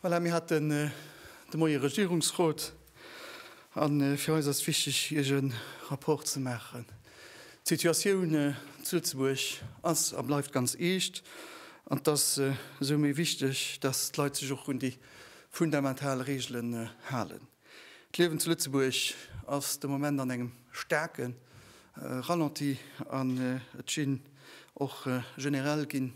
Voilà, mir haten de Moie Regierungsrot a fir eis ass wichteg, Iech e Rapport ze maachen. D'Situatioun zu Lëtzebuerg ass a bleift ganz eescht an et ass esou méi wichteg, dass d'Leit sech och un déi fundamental Reegelen halen. D'Liewen zu Lëtzebuerg ass de Moment an engem staarke Ralenti an et ginn och generell ginn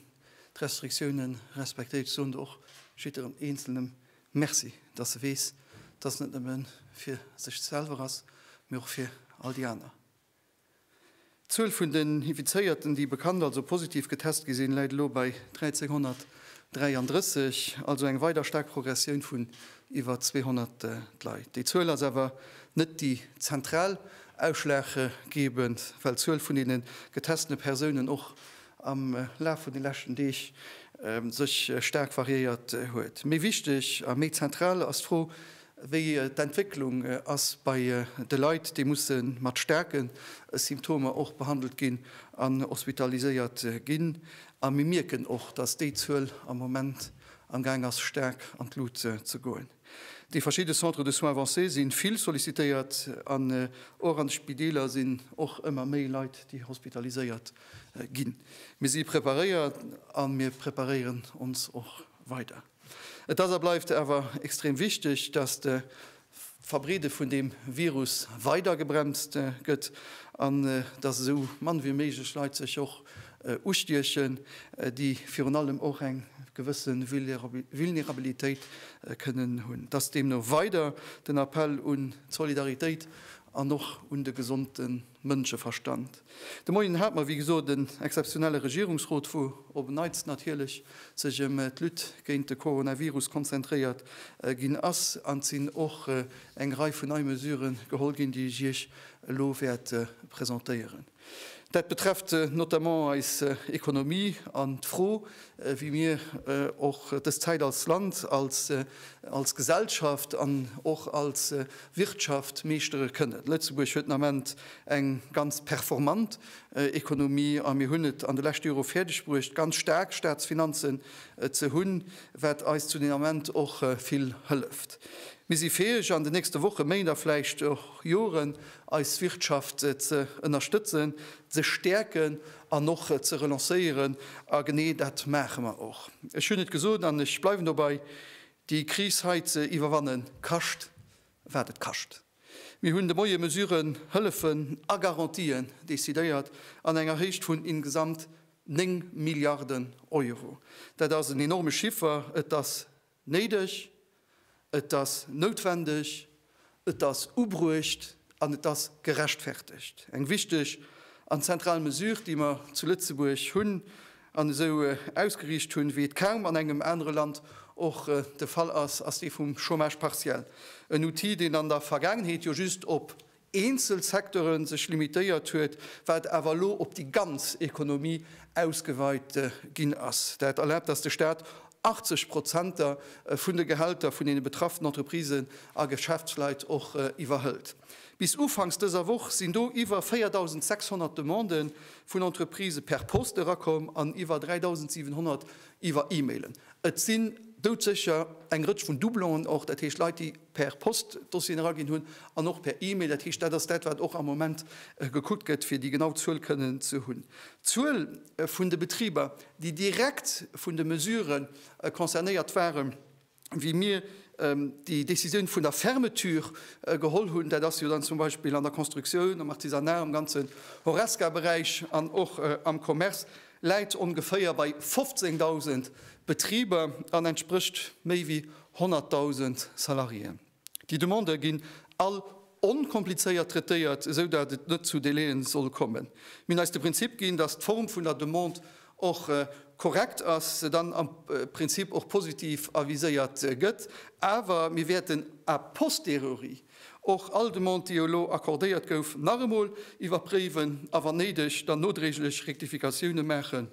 d'Restriktioune respektéiert. Soen do och jiddwerem Eenzelnem Merci, dass e weess, dass et net nëmme fir sech selwer ass, mee och fir all déi aner. D'Zuel vun den Infizéierten, déi bekannt, also positiv getest gi sinn, läit elo bei 1.333, also eng weider staark Progressioun vun iwwer 200 Leit. Déi Zuel ass awer net déi zentral ausschlaggebend, well d'Zuel vun deene getestene Persounen och am Laf vun de leschten Deeg sech staark variéiert huet. Méi wichteg a méi zentral ass d'Fro, wéi d'Entwécklung ass bei de Leit, déi musse mat staarke Symptomer och behandelt ginn an hospitaliséiert ginn. A mir mierken och, dass déi Zuel am Moment amgaang ass staark an d'Lut ze goen. Déi verschidde Centres de soins avancés si vill sollicitéiert an och an de Spideeler sinn och ëmmer méi Leit, déi hospitaliséiert Ginn. Mir si preparéiert a mir preparéieren ons och weider. Et ass a bleift awer extrem wichteg, dass de Verbreede vun deem Virus weider gebremst gëtt an dass esou mann wéi méiglech Leit sech och ustiechen, déi virun allem och eng gewësse Vulnerabilitéit kënnen hunn. Dass deemno weider den Appell un d'Solidaritéit an och un de gesonde. Mënscheverstand. De Moien hat mer, wéi gesot, en exzeptionelle Regierungsrot, wou op en Neits natierlech sech ëm d'Lutte géint de Coronavirus konzentréiert ginn ass. An et sinn och eng Rei vun nei Mesuren geholl ginn, déi ech Iech elo wäert presentéieren. Dat betrefft notamment eis Economie an d'Fro, wéi mir och dës Zäit als Land, als Gesellschaft an och als Wirtschaft meeschtere kënnen. Lëtzebuerg huet den Ament eng ganz performant Ekonomie a mir hunn et an de leschte Jore fäerdeg bruecht, ganz staark Staatsfinanzen ze hunn, wat eis zu den Ament och vill hëlleft. Mir si fäeg, an den nächste Wochen, Méint a vläicht och Joren eis Wirtschaft ze ënnerstëtzen, ze stäerken an och ze relancéieren. A genee dat maache mer och. Ech hunn et gesot an ech bleiwen dobei, Déi Kris hei ze iwwerwannen, kascht wat et kascht. Mir hunn de Moie Mesuren, Hëllefen a Garantien decidéiert an enger Héicht vun ingesamt 9 Milliarden Euro. Dat ass en enorme Chiffer. Et ass néideg, et ass noutwendeg Et ass ubruecht an et ass gerechtfertegt. Eng wichteg an zentral Mesure, déi mer zu Lëtzebuerg hunn an esou ausgeriicht hunn, wéi et kaum an engem anere Land och de Fall ass, ass dee vum Chômage partiel. En Outil, deen an der Vergaangenheet jo just op eenzel Secteure sech limitéiert huet, wat awer elo op déi ganz Ekonomie ausgeweit ginn ass. Dat erlaabt, dass de Stat 80 Prozenter vun de Gehälter vun deene betrafften Entreprisen a Geschäftsleit och iwwerhëlt. Bis ufanks dëser Woch sinn do iwwer 4.600 Demandë vun Entreprisë per Post erakomm an iwwer 3.700 iwwer E-Mailen. Et sinn doudsécher eng Rëtsch vun Doublonen och, dat heescht Leit, déi per Post Dossieren eraginn hunn an och per E-Mail. Dat heescht, dat ass dat, wat och am Moment gekuckt gëtt, fir déi genau Zuel kënnen ze hunn. D'Zuel. vun de Betriber, déi direkt vun de Mesure concernéiert waren, wéi mir déi Décisioun vun der Fermeture geholl hunn, dat ass jo dann zum Beispill an der Constructioun, am Artisanat, am ganzen Horesca-Beräich an och am Commerce, läit ongeféier bei 15.000 Betriber an entsprécht méi wéi 100.000 Salariéen. Déi Demandë ginn all onkomplizéiert traitéiert, esou dat et net zu Délaië soll kommen. Mir hunn eis de Prinzip ginn, dass d'Form vun der Demande och korrekt ass, se dann am Prinzip och positiv aviséiert gëtt, awer mir wäerten a posteriori och all Demande, déi elo accordéiert gouf, nach emol iwwerpréiwen a wann néideg dann nodréiglech Rektifikatioune maachen.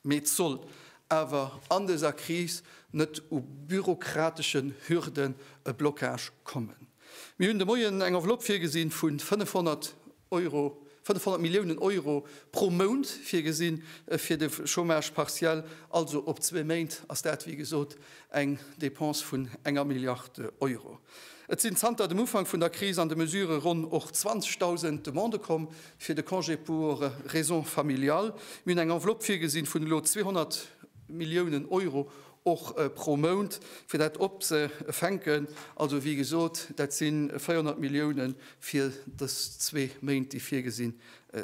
Mee et soll awer an dëser Kris net u bürokrateschen Hürden e Blockage kommen. Mir hunn de Moien eng Enveloppe virgesinn vu 500 Euro, 500 Milliounen Euro pro Mount virgesinn fir de Chômage partiel, also op zwee Méint ass dat wéi gesot eng Dépense vun enger Milliard Euro. Et sinn zanter dem Ufank vun der Kris an de Mesurë ronn och 20.000 Demandë komm, Fir de Congé pour raisons familiales, mir hunn eng Enveloppe virgesinn vun elo 200 Milliounen Euro, och pro Mount, fir dat opzefänken. Also, wéi gesot, dat si 400 Milliounen fir dës zwee Méint, déi virgesinn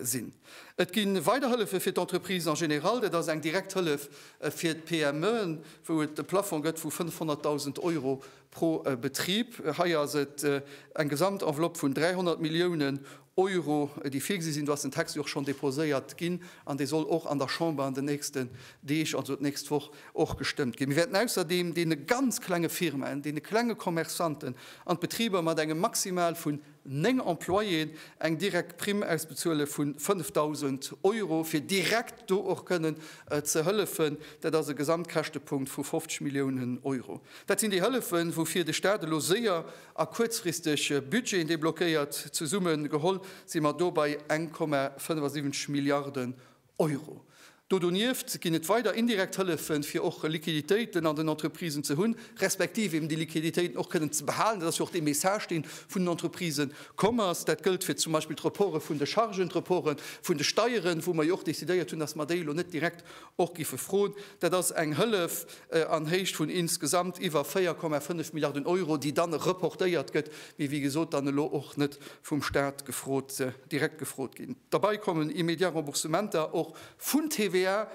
sinn. Et gi weider Hëllefe fir d'Entreprisen en général. Dat ass eng direkt Hëllef fir d'PMEen, wou et e Plafong gëtt vu 500.000 Euro pro Betrib. Hei ass et eng Gesamtenveloppe vun 300 Milliounen Euro, déi virgesi sinn. Do ass den Text jo och schonn déposéiert ginn an dee soll och an der Chamber an den nächsten Deeg, also d'nächst Woch, och gestëmmt ginn. Mir wäerten ausserdeem deene ganz klenge Firmaen, deene klenge Commerçanten an d'Betriber mat engem Maximal vun néng Employéen eng direkt Primm ausbezuele vu 5.000 Euro, fir direkt do och kënnen ze hëllefen. Dat ass e Gesamtkäschtepunkt vu 50 Milliounen Euro. Dat sinn déi Hëllefen, woufir de Stat elo séier A kuerzfristeg Budgeten deblockéiert. Zesumme geholl si mer do bei 1,75 Milliarden Euro. Do donieft ginn et weider indirekt Hëllefen, fir och Liquiditéiten an den Entreprisen ze hunn, respektiv eben déi Liquiditéiten och kënnen ze behalen. Dat ass jo och dee Message, dee vun den Entreprisë komm ass. Dat gëllt fir zum Beispill d'Reporte vun de Chargen, d'Reporte vun de Steieren, wou mer jo och decidéiert hunn, dass mer déi elo net direkt Och giffe froen. Dat ass eng Hëllef an Héicht vun insgesamt iwwer 4,5 Milliarden Euro, déi dann reportéiert gëtt, mee wéi gesot dann elo och net vum Stat gefrot, direkt gefrot ginn. Derbei kommen immédiat Remboursementer och vun TVA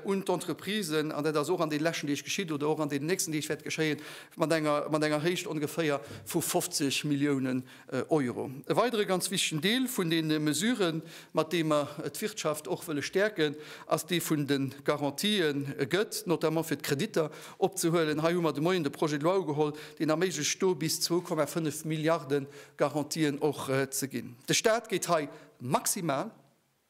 un d'Entreprisen, an dat ass och an den leschten Deeg geschitt oder och an den nächsten Deeg wäert geschéien, mat enger Héicht ongeféier vu 50 Milliounen Euro. E weidere ganz wichtegen Deel vun deene Mesuren, mat deem mer d'Wirtschaft och wëlle stäerken, ass dee vun de Garantien, gëtt notamment fir d'Kreditter opzehuelen. Hei hu mer de Moien de Projet de loi ugeholl, deen erméiglecht do bis 2,5 Milliarde Garantien och ze ginn. De Staat geet hei maximal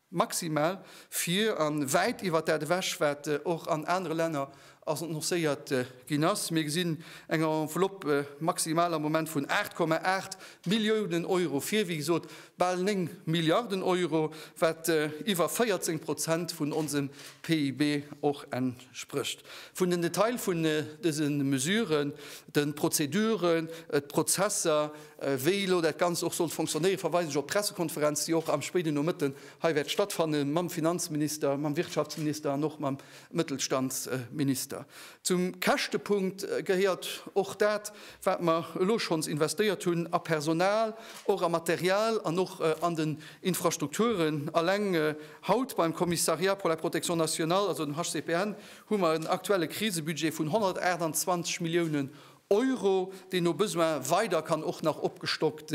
Maximal vir a wäit iwwert dat ewech, wat och an anere Länner annoncéiert ginn ass. Mir gesinn eng Enveloppe maximal am Moment vun 8,8 Milliounen Euro vir, wéi gesot bal 9 Milliarden Euro, wat iwwer 14 Prozent vun onsem PIB och entsprécht. sprécht vun den Detail vun dëse Mesuren, de Prozeduren, d'Prozesser, wéi elo dat Ganzt och sollt fonctionnéieren, verweisen ech op d'Pressekonferenz, déi och am spéiden Nomëtten hei wäert stattfannen, mam Finanzminister, mam Wirtschaftsminister an och mam Mëttelstandsminister. Zum Käschtepunkt gehéiert och dat, wat mer elo schonns investéiert hunn a Personal, och a Material an och an den Infrastrukturen. Alleng Haut beim Commissariat pour la Protection Nationale, also dem HCPN, hu mer en aktuelle Krisebudget vun 128 Milliounen Euro, deen no Besoin weider kann och nach opgestockt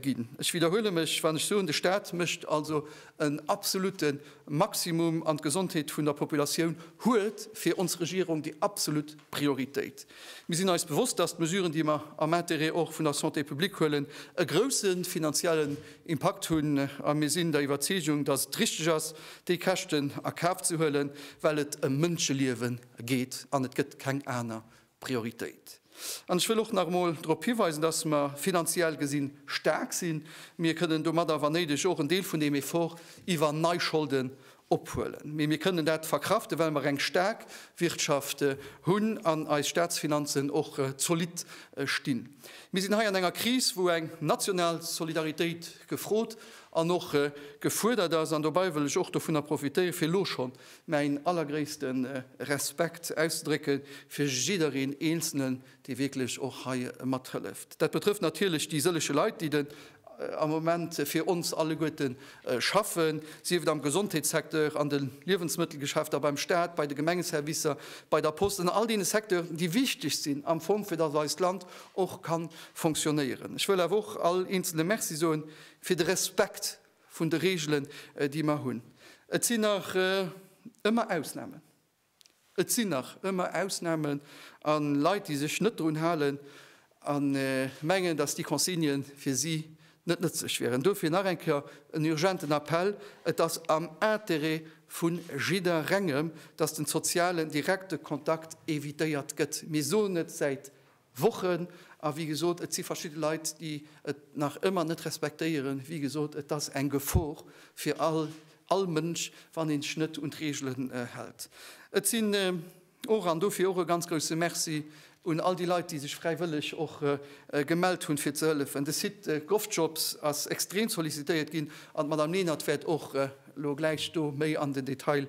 ginn. Ech widderhuele mech, wann ech soen, de Stat mécht also en absolutte Maximum an d'Gesondheet vun der Populatioun huet fir ons Regierung déi absolut Prioritéit. Mir sinn eis bewosst, dass d'Mesuren, déi mer am Intérêt och vun der Santé publique huelen, e grouse finanzielle Impakt hunn a mir sinn der Iwwerzeegung, datt et richteg ass, déi Käschten a Kaf ze huelen, well et ëm Mënscheliewe geet an et gëtt keng aner Prioritéit. An ech wëll och nach emol drop hiweisen, datt mer finanziell gesi staark sinn. Mir kënnen domadder, wann néideg, och en Deel vun deem Effort iwwer nei Scholden ophuelen, mee mir kënnen dat verkraften, well mer eng staark Wirtschaft hunn an eis Staatsfinanzen och zolidd stinn. Mir sinn hei an enger Kris, wou eng national Solidaritéit gefrot an och gefuerdert ass, an dobäi wëll ech och dovunner profitéieren, fir elo schonn mäin allergréisste Respekt auszedrécke fir jiddereen eenzelnen, dee wierklech och hei mathëlleft. Dat betrëfft natierlech déi sëlleche Leit, déi den am Moment fir ons alleguerte schaffen, sief et am Gesondheetssecteur, an de Liewensmëttelgeschäfter, beim Staat, bei de Gemengeservicer, bei der Post, an all deene Secteuren, déi wichteg sinn am Fong, fir datt eist Land och ka fonctionnéieren. Ech wëll awer och all Eenzele Merci soe fir de Respekt vun de Reegelen, déi mer hunn. Et sinn nach ëmmer Ausnamen. Et sinn nach ëmmer Ausnamen a Leit, déi sech net drun halen a mengen, datt déi Consignë fir si net nëtzlech wieren. Dofir nach eng Kéier en urgenten Appell, Et ass am Intérêt vu jidderengem, datt de sozialen direkte Kontakt evitéiert gëtt. Mir soen et säit Wochen. A wéi gesot, et si verschidde Leit, déi et nach ëmmer net respektéieren. Wéi gesot, et ass eng Gefor fir all Mënsch, wann ee sech net un d'Reegelen hält. Et sinn och, an dofir och e ganz grouse Merci un all déi Leit, déi sech fräiwëlleg och gemellt hunn, fir ze hëllefen. De Site GovJobs ass extrem sollicitéiert ginn an d'Madame Lenert wäert och elo gläich do méi an den Detail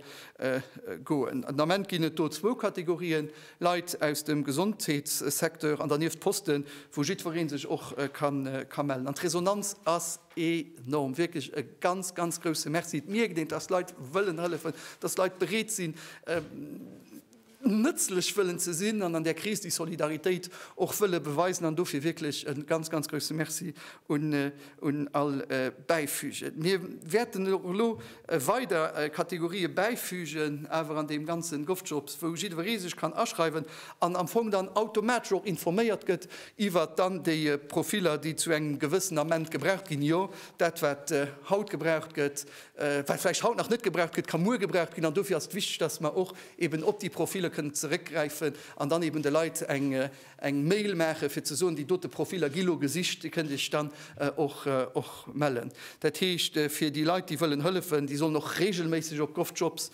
goen. Den Ament ginn et do zwou Kategorien, Leit aus dem Gesondheetssecteur an dernieft Posten, wou jiddweree sech och ka mellen. An d'Resonanz ass enorm. Wierklech e ganz, ganz grousse Merci. Et mierkt een, dass Leit wëllen hëllefen, dass Leit bereet sinn, nëtzlech wëllen ze sinn an an där Kris déi Solidaritéit och wëlle beweisen. An dofir wierklech e ganz, ganz grousse Merci un all Bäifügen. Mir wäerten och elo weider Kategorië bäifügen, awer an deem ganzen Govjobs, wou jiddweree sech kann aschreiwen an am Fong dann automatesch och informéiert gëtt iwwert dann déi Profiller, déi zu engem gewëssenen Ament gebraucht ginn. Jo, dat, wat haut gebraucht gëtt, wat vläicht haut nach net gebraucht gëtt, ka muer gebraucht ginn. An dofir ass et wichteg, dass mer och eeben op déi Profiller kënnen zeréckgräifen an dann eeben de Leit eng Eng Mail maachen, fir ze soen, déi dote Profiller gi lo gesicht, Dir kënnt Iech dann och mellen. Dat heescht, fir déi Leit, déi wëllen hëllefen, déi sollen och reegelméisseg op govjobs.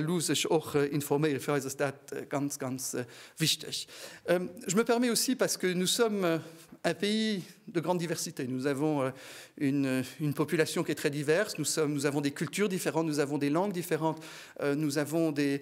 Lu sech och informéieren. Fir eis ass dat ganz, ganz wichteg. Je me permets aussi, parce que nous sommes un pays de grande diversité, nous avons une population qui est très diverse, nous avons des cultures différentes, nous avons des langues différentes, nous avons des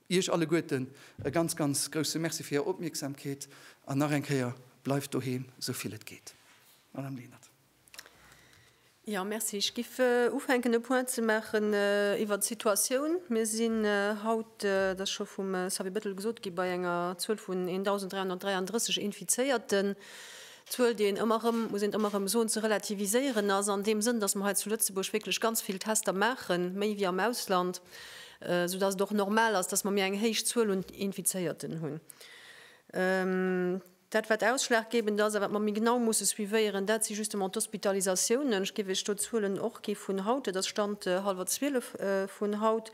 Iech alleguerten e ganz, ganz grousse Merci fir Är Opmierksamkeet an nach eng Kéier, Bleift doheem, esou vill et geet. Madame Lenert. Jo, Merci. Ech géif ufänken e Point ze maachen iwwert d'Situatioun. Mir sinn haut, dat ass scho vum Xavier Bettel gesot ginn, bei enger Zuel vun 1.333 Infizéierten. Zuel, déi een ëmmer erëm, muss een ëmmer erëm soen, ze relativiséieren ass, an deem Sënn, datt mer hei zu Lëtzebuerg wierklech ganz vill Tester maachen, méi wéi am Ausland, soudatt et och normal ass, datt mer méi eng héich Zuel un Infizéierten hunn. Dat wat ausschlaggebend ass a wat mer méi genau musse suivéieren, dat si justement d'Hospitalisatiounen. Ech géif Iech do d'Zuelen och gi vun haut, dat ass Stand hallwer zwielef vun haut,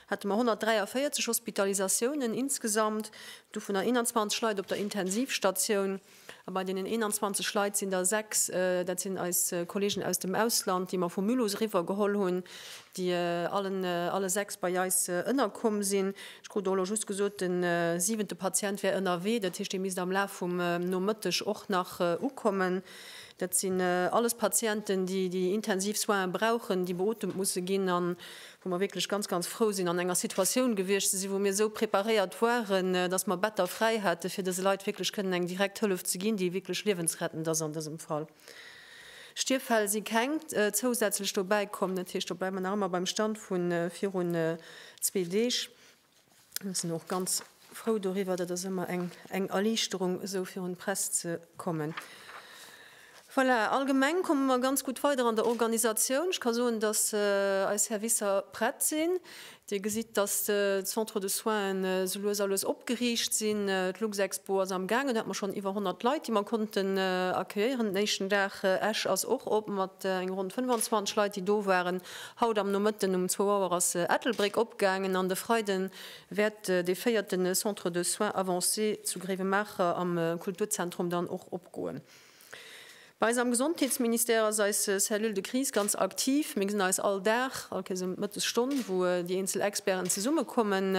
hate mer 143 Hospitalisatiounen insgesamt, dovunner 21 Leit op der Intensivstatioun. A bei deenen 21 Leit sinn der 6, dat sinn eis Kolleegen aus dem Ausland, déi mer vu Mulhouse eriwwer geholl hunn, déi allen, alle 6 bei eis ënnerkomm sinn. Ech krut och elo just gesot, de siwente Patient wär ënnerwee, dat heescht, dee misst am Laf vum Nomëtteg och nach ukommen. Dat sinn alles Patienten, déi déi intensiv Soinen brauchen, déi beotemt musse ginn an wou mer wierklech ganz, ganz frou sinn, an enger Situatioun gewiescht ze sinn, wou mir esou preparéiert waren, dass mer Better fräi haten, fir dëse Leit wierklech kënnen eng direkt Hëllef ze ginn, déi wierklech liewensrettend ass an dësem Fall. Stierffäll si keng zousätzlech dobäi komm. Dat heescht, do bleiwe mer nach ëmmer beim Stand vu virun zwee Deeg. Mir sinn och ganz frou doriwwer. Dat ass ëmmer eng Erliichterung, esou virun d'Press ze kommen. Voilà, allgemeng komme mer ganz gutt weider an der Organisatioun. Ech ka soen, dass eis Servicer prett sinn. Dir gesitt, dass d'Centres de soins esou lues a lues opgeriicht sinn. D'Luxexpo ass am gaangen. Do hate mer schonn iwwer 100 Leit, déi mer konnten accueillieren den éischten Dag. Esch ass och op mat enger ronn 25 Leit, déi do waren. Haut am Nomëtten um zwou Auer ass Ettelbréck opgaangen an de Freide wäert dee véierte Centre de Soins Avancés zu Gréiwemaacher am Kulturzentrum dann och opgoen. Bei eis am Gesondheetsministère ass eis Cellule de Crise ganz aktiv. Mir gesinn eis all Dag, all Kéiers ëm d'Mëttesstonn, wou déi eenzel Experten zesummekommen.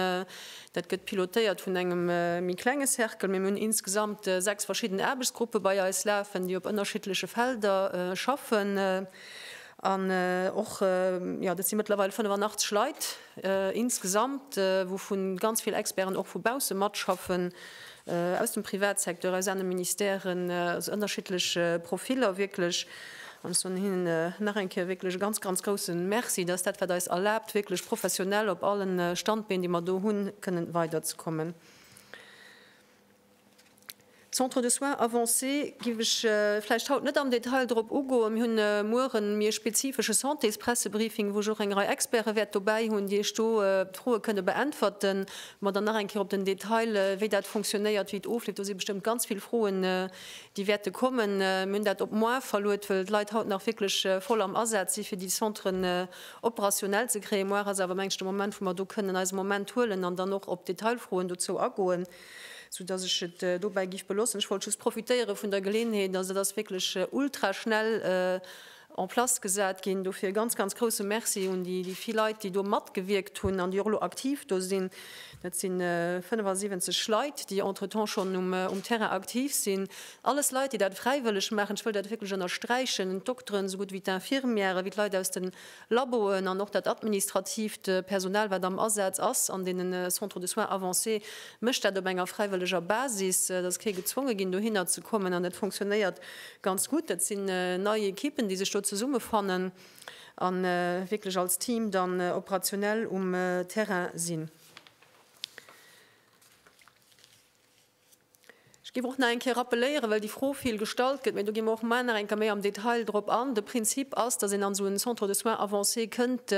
Dat gëtt pilotéiert vun engem méi klenge Cercle, mee mir hunn insgesamt sechs verschidden Aarbechtsgruppe bei eis lafen, déi op ënnerschiddleche Felder schaffen. An och, jo, dat si mëttlerweil 85 Leit insgesamt, wouvu ganz vill Experten och vu bausse matschaffen, aus dem Privatsecteur, aus anere Ministèren, also ënnerschiddlech Profiller wierklech. An ech soen hinnen nach eng Kéier wierklech e ganz, ganz grousse Merci, dass dat wat eis erlaabt, wierklech professionell op alle Standbeen, déi mer do hunn, kënnen weiderzekommen. D'Centres de soins avancés géif ech vläicht haut net am Detail drop ugoen. Mir hunn muer e méi spezifesche Santéspressebriefing, wou ech och eng Rei Experte wäert dobäi hunn, déi Iech do d'Froe kënne beäntwerten, mer dann nach eng Kéier op den Detail, wéi dat funktionéiert, wéi et ofleeft. Do si bestëmmt ganz vill Froen, déi wäerte kommen. Mir hunn dat op moar verluet, well d'Leit haut nach wierklech voll am Asaz si fir déi Centren operationell ze kréien. Moar ass awer, mengen ech, de Moment, wou mer do kënnen eis e Moment huelen an dann och op d'Detailfroen dozou agoen. Sou dass ech et dobäi giff belossen. Ech wollt just profitéiere vun der Geleeënheet, dass et ass wierklech ultra schnell en place gesat ginn. Dofir e ganz, ganz grouse Merci un déi vill Leit, déi do matgewierkt hunn an déi och elo aktiv do sinn. Dat si 75 Leit, déi entretemps schonn um Terrain aktiv sinn. Alles Leit, déi dat fräiwëlleg maachen. Ech wëll dat wierklech ënnersträichen, d'Dokteren esou gutt wéi d'Infirmièren, wéi d'Leit aus den Laboen an och dat administratiivt Personal, wat am Asaz ass an deenen Centres de soins avancés, mécht dat op enger fräiwëlleger Basis. Et ass kee gezwonge ginn, dohinner ze kommen an dat funktionéiert ganz gutt. Dat sinn nei Equippen, déi sech do zesummefannen a wierklech als Team dann operationell um Terrain sinn. Ech géif och nach eng Kéier rappeléieren, well déi Fro vill gestallt gëtt, mä do gi mer och mar nach eng Kéier méi am Detail drop an, De Prinzip ass, datt een an esou en Centre de soins avancés kënnt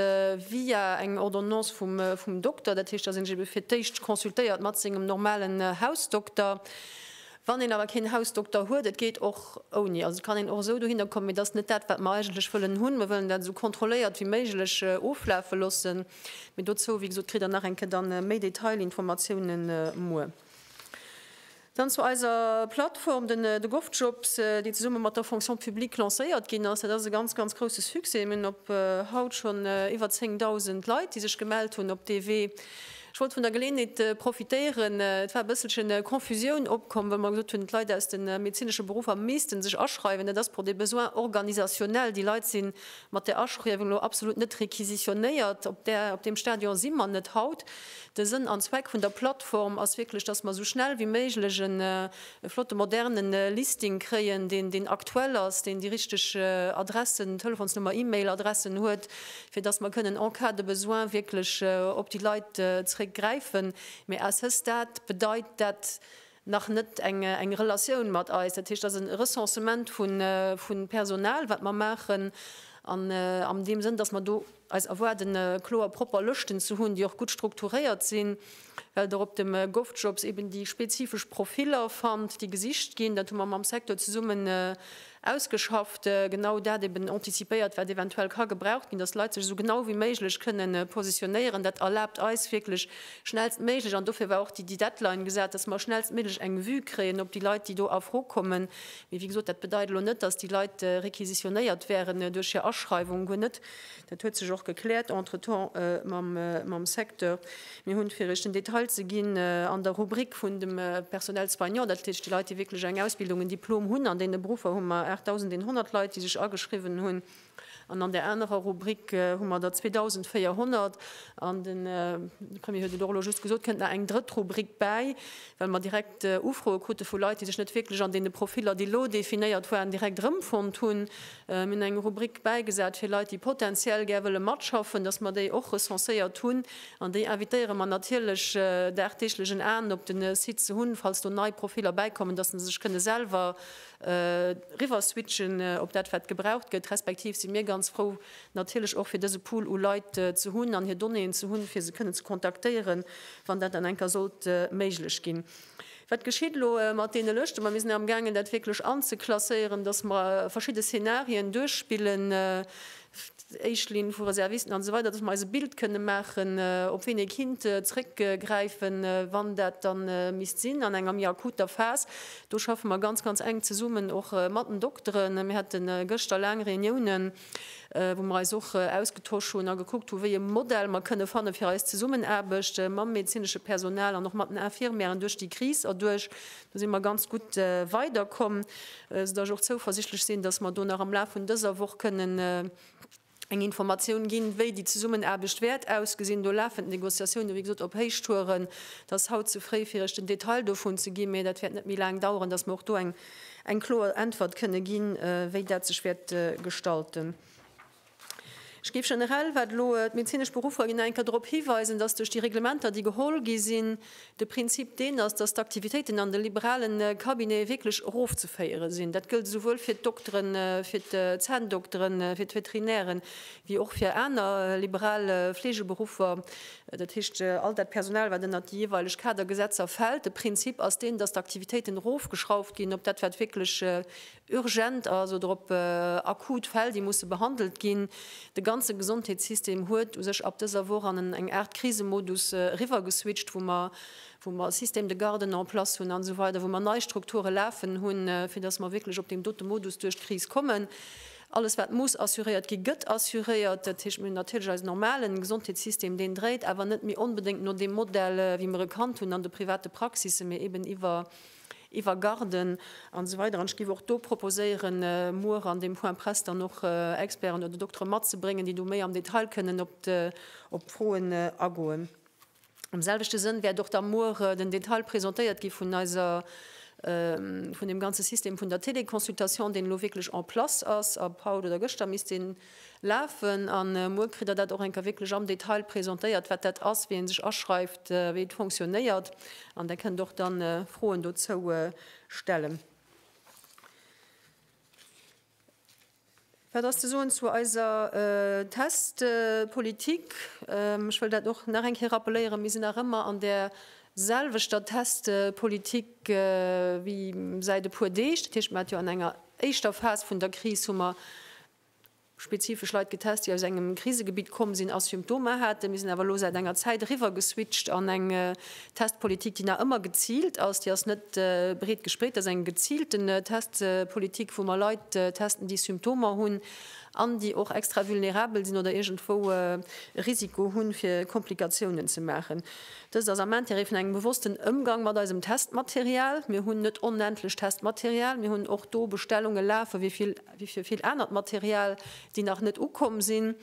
via eng Ordonnance vum Dokter. Dat heescht, datt ee sech ebe fir d'éischt consultéiert mat sengem normalen Hausdokter. Wann een awer keen Hausdokter huet, et geet och ouni, also et kann een och esou dohinner kommen, mee dat ass net dat, wat mer eigentlech wëllen hunn. Mer wëllen dat esou kontrolléiert wéi méiglech oflafe loossen. Mee dozou, wéi gesot, kritt Der nach eng Kéier da méi Detailinformatiounen muer. Dann zu eiser Plattform, den GovJobs, déi zesumme mat der Fonction publique lancéiert ginn ass. Dat ass e ganz, ganz grousse Succès. Mir hunn op haut schonn iwwer 10.000 Leit, déi sech gemellt hunn op dee Wee. Ech wollt vun der Geleeënheet profitéieren, et war e bësselche Confusioun opkomm, well mer gesot hunn, d'Leit aus de medezinesche Beruffer misste sech aschreiwen. Dat ass pour des besoins organisationnels. Déi Leit si mat där Aschriewung elo absolut net requisitionnéiert. Op där, op deem Stadion si mer net haut. De Sënn an Zweck vun der Plattform ass wierklech, dass mer esou schnell wéi méiglech e flotte moderne Listing kréien, deen deen aktuell ass, deen déi richteg Adressen, Telefonsnummer, E-Mail Adressen huet, fir dass mer kënnen en cas de besoin wierklech op déi Leit zréck gräifen. Mee à ce stade bedeit dat nach net eng Relatioun mat eis. Dat heescht, dat ass e Recensement vu Personal wat mer maachen an am deem Sënn, dass mer do, Eis erwaarden kloer propper Lëschten ze hunn, déi och gutt strukturéiert sinn, well Der op dem Govjobs eben déi spezifesch Profiller fannt, déi gesicht ginn. Dat hu mer mam Secteur zesummen ausgeschafft, genau dat eben antizipéiert, wat eventuell ka gebraucht ginn, datt d'Leit sech esou genau wéi méiglech kënne positionéieren. Dat erlaabt eis wierklech schnellstméiglech, an dofir war och déi Deadline gesat, datt mer schnellstméiglech eng Vue kréien op déi Leit, déi do a Fro kommen. Mee wéi gesot, dat bedeit elo net, datt déi Leit requisitionéiert wäeren duerch hir Aschreiwung, guer net. Dat huet sech och gekläert entretemps mam Secteur. Mir hunn, fir Iech den Detail ze ginn, an der Rubrik vun dem Personnel soignant, dat heescht déi Leit, déi wierklech eng Ausbildung, en Diplom hunn, an deene Beruffer hu mer 8.100 Leit, déi sech ageschriwwen hunn, an an där anerer Rubrik hu mer der 2.400. An de Premier huet et och elo just gesot, et kënnt nach eng drëtt Rubrik bäi, well mer direkt Ufroe krute vu Leit, déi sech net wierklech an deene Profiller, déi elo definéiert waren, direkt erëmfonnt hunn. Mir hunn eng Rubrik bäigesat fir Leit, déi potentiell gär wëlle matschaffen, dass mer déi och recenséiert hunn. An déi invitéiere mer natierlech dagdeeglech en Aen op de Site ze hunn, falls do nei Profiller bäikommen, dass se sech kënne selwer riwwer switchen op dat wat gebraucht gëtt. Respektiv si mir ganz frou natierlech och fir dëse Pool u Leit ze hunn an hir Donnéeën ze hunn, fir se kënne ze kontaktéieren, wann dat dann eng Kéier sollt méiglech ginn. Wat geschitt elo mat deene Lëschten? Mer sinn amgaangen, dat wierklech anzeklasséieren, dass mer verschidde Szenarien duerchspillen, éischt Linn vu Reservisten an esou weider, dass mer eis e Bild kënne maachen, op wien ee kinnt zréckgräifen, wann dat da misst sinn an enger méi akuter Phas. Do schaffe mer ganz, ganz enk zesummen och mat den Dokteren. Mir hate gëschter laang Reuniounen. wou mer eis och ausgetosch hunn a gekuckt hu wéi e Modell mer kënne fanne fir eis Zesummenaarbecht mam medezinesche Personal an och mat den Infirmièren duerch déi Kris erduerch. Do si mer ganz gutt weiderkomm, soudass ech och zouversichtlech sinn, dass mer do nach am Laf vun dëser Woch kënnen eng Informatioun ginn, wéi déi Zesummenaarbecht wäert ausgesinn. Do lafen d'Negociatioune wéi gesot op Héichtouren. Et ass haut ze fréi fir Iech den Detail dovun ze ginn, mee dat wäert net méi laang daueren, dass mer och do eng eng kloer Äntwert kënne ginn, wéi dat sech wäert gestalten. Ech géif generell, wat elo d'medezinesch Beruffer ginn, nach eng Kéier drop hiweisen, dass duerch déi Reglementer, déi geholl gi sinn, de Prinzip deen ass, dass d'Aktivitéiten an de liberalen Cabinete wierklech erofzeféiere sinn. Dat gëllt esouwuel fir d'Dokteren, fir d'Zänndokteren, fir d'Veterinären, wéi och fir aner liberal Fleegeberuffer, dat heescht all dat Personal, wat ënnert déi jeeweileg Kadergesetzer fält. De Prinzip ass deen, dass d'Aktivitéiten erofgeschrauft ginn op dat, wat wierklech urgent ass oder op akut Fäll, déi musse behandelt ginn. De ganze Gesondheetssystem huet u sech ab dëser Woch an eng Aart Krisemodus eriwwergeswitcht, wou mer, wou mer Système de garde en place hunn an esou weider, wou mer nei Strukture lafen hunn, fir dass mer wierklech op deem dote Modus duerch d'Kris kommen. Alles wat muss assuréiert gi gëtt assuréiert. Dat heescht, mir hunn natierlech eisen normalen Gesondheetssystem, deen dréit awer net méi onbedéngt no deem Modell wéi mer e kannt hunn an de private Praxisen, mee eben iwwer Garden an esou weider. An ech géif och do proposéieren muer an deem Point presse dann och Experten oder Doktere matzebréngen, déi do méi am Detail kënnen op d'Froen agoen. Am selwechte Sënn wäert och da muer den Detail presentéiert gi vun eiser, vun deem ganze System vun der Téléconsultation, deen elo wierklech en place ass ab haut oder gëschter misst deen lafen. A muer kritt Der dat och eng Kéier wierklech am Detail presentéiert, wat dat ass, wéi ee sech aschreift, wéi et fonctionnéiert. An Der kënnt och da Froen dozou stellen. Wat ass ze soen zu eiser Testpolitik? Ech wëll dat och nach eng Kéier rappeléieren, Mir sinn nach ëmmer an där selwechter Testpolitik wéi säit e puer Deeg. Dat heescht, mir hate jo an enger éischter Phas vun der Kris hu mer spezifesch Leit getest, déi aus engem Krisegebitt komm sinn a Symptomer haten. Mir sinn awer elo säit enger Zäit eriwwer geswitcht an eng Testpolitik, déi nach ëmmer geziilt ass, déi ass net breet gespreet, dat ass eng geziilten Testpolitik, wou mer Leit testen, déi Symptomer hunn an déi och extra vulnerabel sinn oder iergendwou e Risiko hunn, fir Komplikatiounen ze maachen. Dëst ass am Intérêt vun engem bewossten Ëmgang mat eisem Testmaterial. Mir hunn net onendlech Testmaterial. Mir hunn och do Bestellunge lafen, wéi fir vill anert Material, déi nach net ukomm sinn.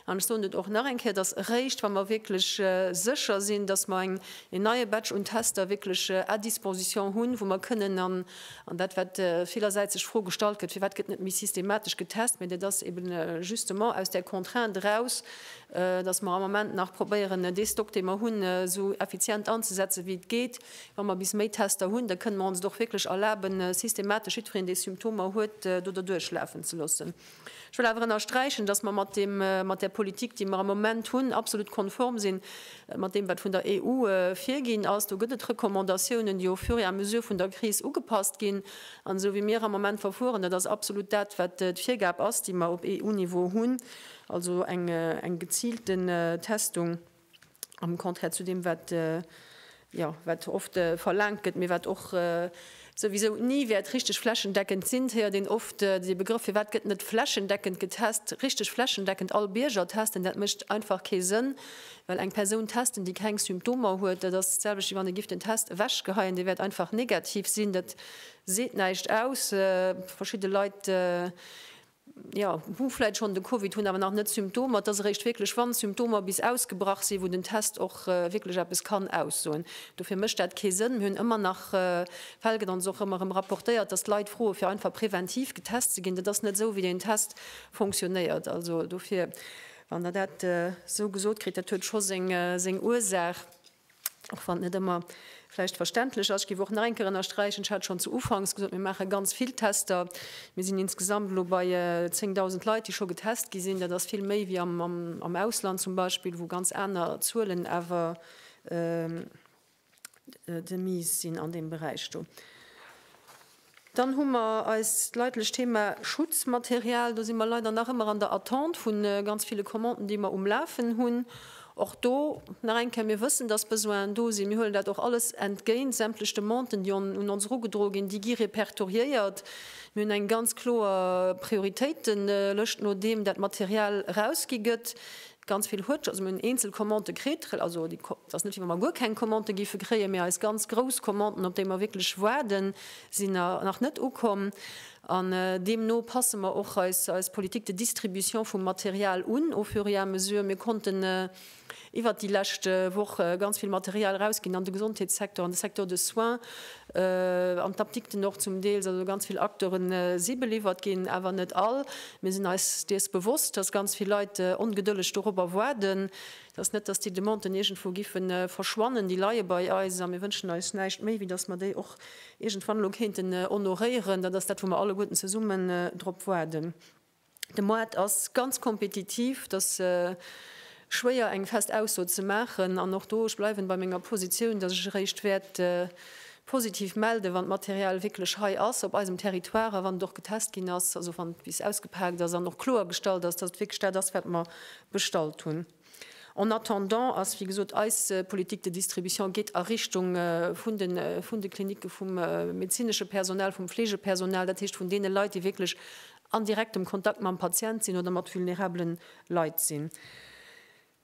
An ech soen et och nach eng Kéier, dass eréischt, wa mer wierklech sécher sinn, dass mer en neie Batch un Tester wierklech à disposition hunn, wou mer kënnen, an dat, wat villersäits sech d'Fro gestallt gëtt, firwat gëtt net méi systematesch getest, mä dat ass eben justement aus där Contrainte eraus, dass mer am Moment nach probéieren, dee Stock, dee mer hunn, esou effizient anzusetzen, wéi et geet. Wa mer bis Méi Tester hunn, da kënnen mer ons et och wierklech erlaben, systematesch jiddwereen, dee Symptomer huet, do derduerchlafen ze loossen. Ech wëll awer ënnersträichen, dass mer mat där Politik, déi mer am Moment hunn, absolut konform si mat deem, wat vun der EU virginn ass. Do gëtt et Recommandatiounen, déi au fur et à mesure vun der Kris ugepasst ginn. An esou wéi mir am Moment verfueren, dat ass absolut dat, wat d'Virgab ass, déi mer op EU-Niveau hunn, also eng geziilte Testung. am Contraire zu deem, wat, jo, wat oft verlaangt gëtt, mee wat och souwisou ni wäert richteg flächendeckend sinn. Et héiert een oft dee Begrëff, firwat gëtt net flächendeckend getest, richteg flächendeckend all Bierger testen? Dat mécht einfach kee Sënn, well eng Persoun testen, déi keng Symptomer huet, dat ass d'selwecht, wéi wann ee giff den Test ewechgeheien, dee wäert einfach negativ sinn. Dat seet näischt aus. Verschidde Leit jo, hu vläit schonn de Covid, hunn awer nach net d'Symptomer. Et ass eréischt wierklech, wann d'Symptomer bis ausgebrach sinn, wou den Test och wierklech eppes kann aussoen. Dofir mécht dat kee Sënn. Mir hunn ëmmer nach Fäll, gëtt ons och ëmmer erëm rapportéiert, datt d'Leit froe fir einfach preventiv getest ze ginn. Dat ass net esou, wéi deen Test funktionéiert. Also dofir, wann Der dat esou gesot kritt, dat huet scho seng Ursaach. Och wann et net ëmmer vläicht verständlech ass, ech géif och nach eng Kéier ënnersträichen, ech hat schonn zu Ufanks gesot, mir maache ganz vill Tester, mir sinn insgesamt elo bei 10.000 Leit, déi scho getest gi sinn. Dat ass vill méi wéi am Ausland zum Beispill, wou ganz aner Zuelen awer de mise sinn an deem Beräich do. Dann hu mer eist leidlecht Thema Schutzmaterial. Do si mer leider nach ëmmer an der Attente vu ganz ville Commanden, déi mer um Lafen hunn. Och do nach eng Kéier, Mir wëssen, dass Besoinen do sinn. Mir huelen dat och alles entgéint. Sämtlech Demanden, déi un ons erugedroe ginn, déi gi repertoriéiert. Mir hunn eng ganz kloer Prioritéitelëscht, nodeem dat Material erausgi gëtt. Ganz vill huet, also mir hunn eenzel Commandë kritt, also déi, et ass net wéi wa mer guer keng Commandë géife kréien, mee eis ganz grouss Commanden, op déi mer wierklech waarden, sinn nach net ukomm. An deemno passe mer och eis, eis Politique de distribution vum Material un au fur et à mesure. Mir konnten iwwert déi lescht Woch ganz vill Material erausginn an de Gesondheetssecteur, an de Secteur de soins, An d'Apdikten och zum Deels. Also ganz vill Akteure si beliwwert ginn, awer net all. Mir sinn eis dees bewosst, dass ganz vill Leit ongedëlleg dorobber waarden. Et ass net, dass déi Demanden iergendwou giffe verschwannen. Déi leie bei eis a mir wënschen eis näischt méi, wéi dass mer déi och iergendwann elo kéinten honoréieren. Dat ass dat, wou mer alleguerten zesumme drop waarden. De Moart ass ganz kompetitiv, et ass schwéier eng fest Ausso ze maachen. An och do, ech bleiwen bei menger Positioun, dass ech eréischt wäert positiv melden, wann d'Material wierklech hei ass op eisem Territoire a wann et och getest ginn ass, also wann et bis ausgepaakt ass an och kloergestallt ass, dass et wierklech dat ass wat mer bestallt hunn. En attendant ass, wéi gesot, eis Politik de distribution geet a Richtung vun de Klinicke vum medezinesche Personal, vum Fleegepersonal, dat heescht vun deene Leit, déi wierklech an direktem Kontakt mam Patient sinn oder mat vulnerabele Leit sinn.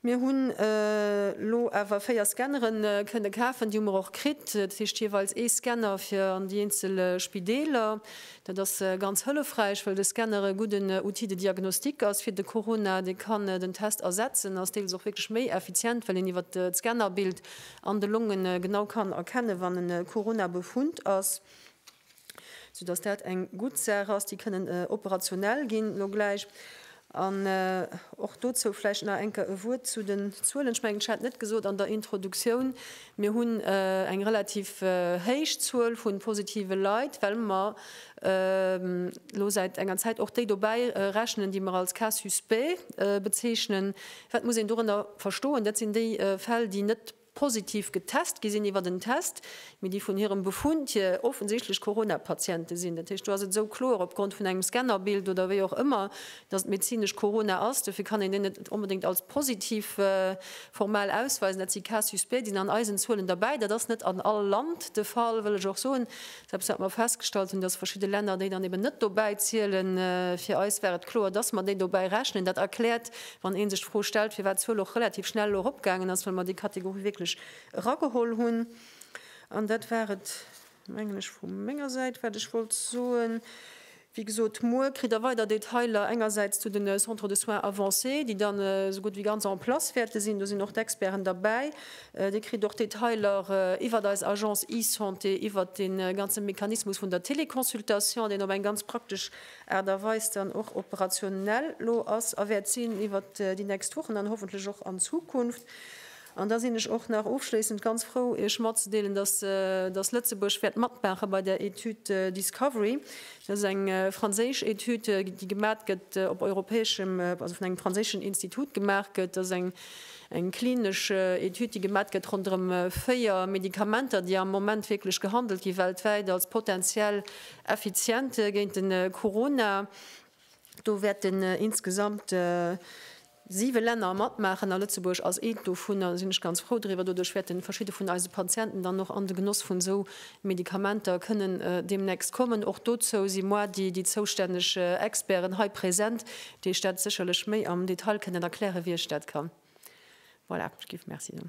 Mir hunn elo awer véier Scannere kënne kafen, déi hu mer och kritt, dat heescht jeeweils ee Scanner fir an déi eenzel Spideeler. Dat ass ganz hëllefräich, well de Scanner e gudden Outil de diagnostic ass fir de Corona. Dee kann den Test ersetzen, ass deels och wierklech méi effizient, well een iwwert d'Scannerbild an de Longe genau kann erkennen, wann e Corona-Befund ass, soudass dat eng gutt Saach ass. Déi kënnen operationell ginn elo gläich. An och dozou vläicht nach enker e Wuert zu den Zuelen. Ech mengen, ech hat net gesot an der Introduktioun, mir hunn eng relativ héich Zuel vu positive Leit, well mer elo säit enger Zäit och déi dobäi rechnen, déi mer als Cas suspect bezeechnen. Wat muss een dorënner verstoen? Dat sinn déi Fäll, déi net positiv getest gi sinn iwwert en Test, mee déi vun hirem Befund hier offensichtlech Corona-Patiente sinn. Dat heescht, do ass et esou kloer opgrond vun engem Scannerbild oder wéi och ëmmer, datt et medezinesch Corona ass. Dofir kann een deen net onbedéngt als positiv formal ausweisen. Dat si Cas-Suspect, déi sinn an eisen Zuelen derbäi. Dat ass net an all Land de Fall, wëll ech och soen. Eppes wat mer festgestallt hunn, dass verschidde Länner déi dann eben net dobäi zielen. Fir eis war et kloer, dass mer déi dobäi rechnen. Dat erkläert, wann ee sech d'Fro stellt, firwat d'Zuel och relativ schnell elo eropgaangen ass, well mer déi Kategorie wierklech erageholl hunn. An dat war et, mengen ech, vu menger Säit, wat ech wollt soen. Wéi gesot, muer kritt der weider Detailer, engersäits zu den Centres de soins avancés, déi dann esou gutt wéi ganz en place wäerte sinn, do sinn och d'Experten derbäi. Dir kritt och Detailer iwwert eis Agence eSanté, iwwert dee ganze Mechanismus vun der Téléconsultation, deen op eng ganz praktesch Aart a Weis dann och operationell elo ass a wäert sinn iwwert déi nächst Wochen an hoffentlech och an Zukunft. An da sinn ech och nach ofschléissend ganz frou, Iech matzedeelen, dass, dass Lëtzebuerg wäert matmaache bei der Etüd Discovery. Dat ass eng franséisch Etüd, déi gemat gëtt op europäeschem, also vun engem franséischen Institut gemaach gëtt. Dat ass eng, eng klinesch Etüd, déi gemat gëtt ronderëm véier Medikamenter, déi am Moment wierklech gehandelt gi weltwäit als potentiell effizient géint de Corona. Do wäerten insgesamt Siwe Länner matmaachen a Lëtzebuerg ass eent dovunner. Da sinn ech ganz frou driwwer. Doduerch wäerten verschidde vun eise Patienten dann och an de Genoss vun esou Medikamenter kënnen deemnächst kommen. Och dozou si moi déi déi zoustänneg Experten hei present, déi Iech dat sécherlech méi am Detail kënnen erklären, wéi ech dat kann. Voilà, ech géif Merci soen.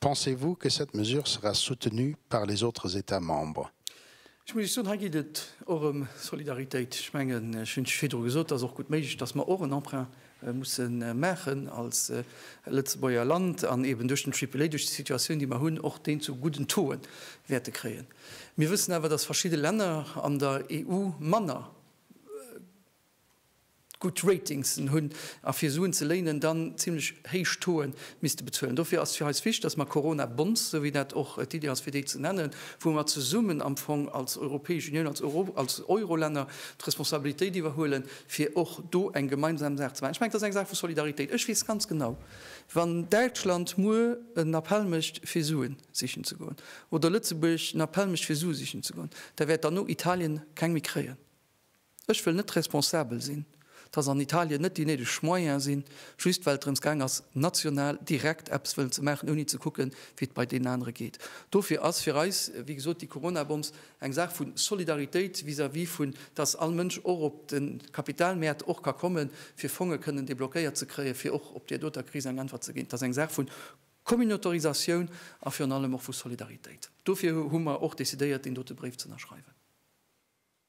Pensez-vous que cette mesure sera soutenue par les autres États membres? Ech muss Iech soen, hei geet et och ëm Solidaritéit. Ech mengen, ech hunn virdru gesot, et ass och gutt méiglech, dass mer och en Emprunt musse maachen als Lëtzebuerger Land an eeben duerch den Triple-A, duerch déi Situatioun, déi mer hunn, och deen zu gudden Taux'e wäerte kréien. Mir wëssen awer, dass verschidde Länner an der EU manner, gutt Ratings'en hunn a fir Suen ze léinen dann zimlech héich Taux'e misste bezuelen. Dofir ass fir eis wichtig, dass mer Corona-Bonds, esou wéi dat och d'Iddi ass fir déi ze nennen, wou mer zesummen am Fong als Europäesch Unioun, als Eurolänner d'Responsabilitéit iwwerhuelen, fir och do eng gemeinsam Saach ze maachen. Ech mengen, dat ass eng Saach vu Solidaritéit. Ech weess ganz genau, wann Däitschland muer en Appell mécht fir Suen sichen ze goen oder Lëtzebuerg en Appell mécht fir Sue sichen ze goen, da wäert derno Italien keng méi kréien. Ech wëll net responsabel sinn, dass an Italien net déi néideg Moyene sinn, just well et drëms gaang ass, national direkt eppes wëllen ze maachen, ouni ze kucken, wéi et bei deenen anere geet. Dofir ass fir eis, wéi gesot, déi Corona-Bombs eng Saach vu Solidaritéit vis-à-vis vun, dass all Mënsch och op de Kapitalmäert och ka kommen, fir Fonge kënnen deblockéiert ze kréien, fir och op där doter Kris eng Äntwert ze ginn. Et ass eng Saach vu Communautarisatioun a virun allem och vu Solidaritéit. Dofir hu mer och decidéiert, deen dote Bréif z'ënnerschreiwen.